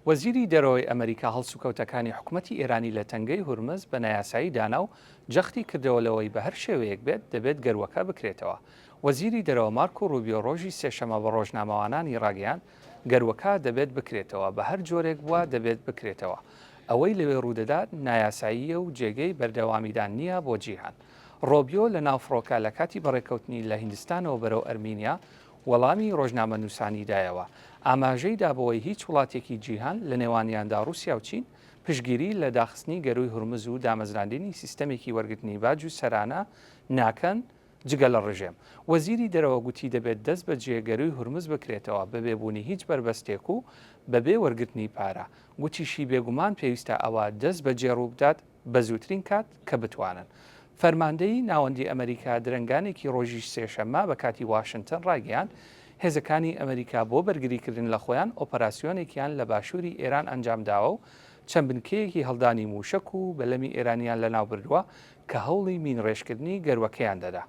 وەزیری دەرەوەی ئەمەریکا هەڵسوکەوتەکانی حکومەتی ئێرانی لە تەنگەی هورمز بە نایاسایی دانا و جەختی کردەوە لەوەی بە هەر شێوەیەک بێت دەبێت گەروەکە بکرێتەوە. وەزیری دەرەوە مارکۆ روبیۆ رۆژی سێشەمە بە رۆژنامەوانانی راگەیاند، گەروەکە دەبێت بکرێتەوە، بە هەر جۆرێک بووە دەبێت بکرێتەوە. ئەوەی لەوێ روودەدات نایاساییە و جێگەی بەردەوامیدان نییە بۆ جیهان. رۆبیۆ لە ناو فڕۆکە لە کاتی بەڕێکەوتنی لە هیندستانەوە بەرەو ئەرمینیا وەڵامی ڕۆژنامەنووسانی دایەوە، ئاماژەی دا بەوەی هیچ وڵاتێکی جیهان، لە نێوانیاندا ڕووسیا و چین، پشتگیری لە داخستنی گەرووی هورمز و دامەزراندنی سیستەمێکی وەرگرتنی باج و سەرانە ناکەن جگە لە ڕژێم. وەزیری دەرەوە گوتی دەبێت دەستبەجێ گەرووی هورمز بکرێتەوە بەبێ بوونی هیچ بەربەستێک و بەبێ وەرگرتنی پارە. گوتیشی بێگومان پێویستە ئەوە دەستبەجێ ڕووبدات. بە زووترین کات کە بتوانن. فەرماندەیی ناوەندی ئەمەریکا درەنگانێکی ڕۆژی سێشەممە بە کاتی واشنتن ڕایگەیاند، هێزەکانی ئەمەریکا بۆ بەرگریکردن لە خۆیان ئۆپەراسیۆنێکیان لە باشووری ئێران ئەنجامداوە و چەند بنکەیەکی هەڵدانی مووشەک و بەلەمی ئێرانیان لەناوبردووە کە هەوڵی مینڕێژکردنی گەروەکەیان دەدا.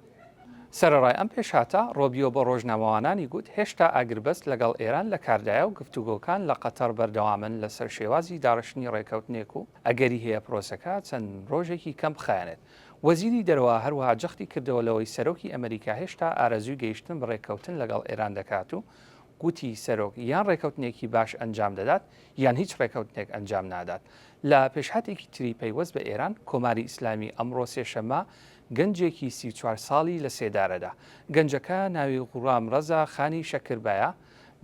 سەرەڕای ئەم پێشهاتە، ڕۆبیۆ بە ڕۆژنامەوانانی گوت هێشتا ئاگربەست لەگەڵ ئێران لە کاردایە و گفتوگۆکان لە قەتەڕ بەردەوامن لەسەر شێوازی داڕشتنی ڕێککەوتنێک و ئەگەری هەیە پرۆسەکە چەند ڕۆژێکی کەم بخایەنێت. وەزیری دەرەوە هەروەها جەختی کردەوە لەوەی سەرۆکی ئەمەریکا هێشتا ئارەزووی گەیشتن بە ڕێککەوتن لەگەڵ ئێران دەکات و گوتی سەرۆک یان ڕێککەوتنێکی باش ئەنجام دەدات یان هیچ ڕێککەوتنێک ئەنجام نادات. لە پێشهاتێکی تری پەیوەست بە ئێران، کۆماری ئیسلامی ئەمڕۆ سێشەممە گەنجێکی سی و چوار ساڵی لە سێدارەدا. گەنجەکە ناوی غوڵام ڕەزا خانی شەکربایە،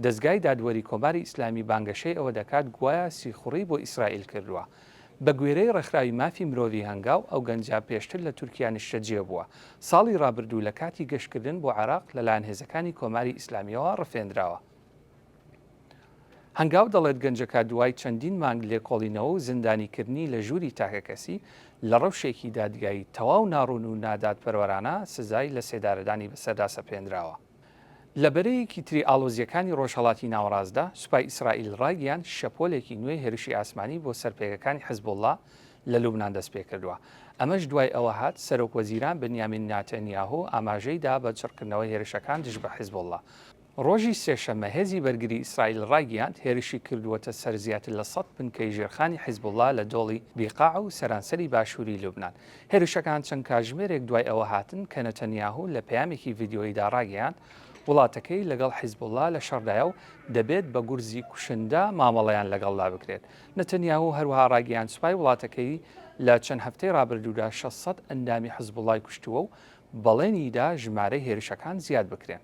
دەزگای دادوەری کۆماری ئیسلامی بانگەشەی ئەوە دەکات گوایە سیخوڕی بۆ ئیسرائیل کردووە. بە گوێرەی ڕێکخراوی مافی مرۆڤی هەنگاو، ئەو گەنجە پێشتر لە تورکیا نیشتەجێ بووە، ساڵی ڕابردوو لە کاتی گەشتکردن بۆ عێراق لەلایەن هێزەکانی کۆماری ئیسلامییەوە ڕفێندراوە. هەنگاو دەڵێت گەنجەکە دوای چەندین مانگ لێکۆڵینەوە و زیندانیکردنی لە ژووری تاکەکەسی، لە ڕەوشێکی دادگایی تەواو ناڕوون و نادادپەروەرانە سزای لەسێدارەدانی بەسەردا سەپێنراوە. لە بەرەیەکی تری ئاڵۆزییەکانی ڕۆژهەڵاتی ناوەڕاستدا، سوپای ئیسرائیل ڕایگەیاند شەپۆلێکی نوێی هێرشی ئاسمانی بۆ سەر پێگەکانی حزبوڵڵا لە لوبنان دەستپێکردووە، ئەمەش دوای ئەوە هات سەرۆکوەزیران بنیامین ناتانیاهۆ ئاماژەی دا بە چڕکردنەوەی هێرشەکان دژ بە حزبوڵڵا. ڕۆژی سێشەممە هێزی بەرگری ئیسرائیل ڕایگیاند، هێرشی کردووەتە سەر زیاتر لە سەد بنکەی ژێرخانی حیزبوڵڵا لە دۆڵی بیقاع و سەرانسەری باشووری لوبنان. هێرشەکان چەند کاتژمێرێک دوای ئەوە هاتن کە نەتەنیاهو لە پەیامێکی ڤیدیۆییدا ڕاگەیاند، وڵاتەکەی لەگەڵ حیزبوڵڵا لە شەڕدایە و دەبێت بە گورزی کوشندە مامەڵەیان لەگەڵدا بکرێت. نەتەنیاهو هەروەها ڕایگەیاند سوپای وڵاتەکەی لە چەند هەفتەی ڕابردوودا شەش سەد ئەندامی حزبوڵڵای کوشتووە و بەڵێنی دا ژمارەی هێرشەکان زیاد بکرێن.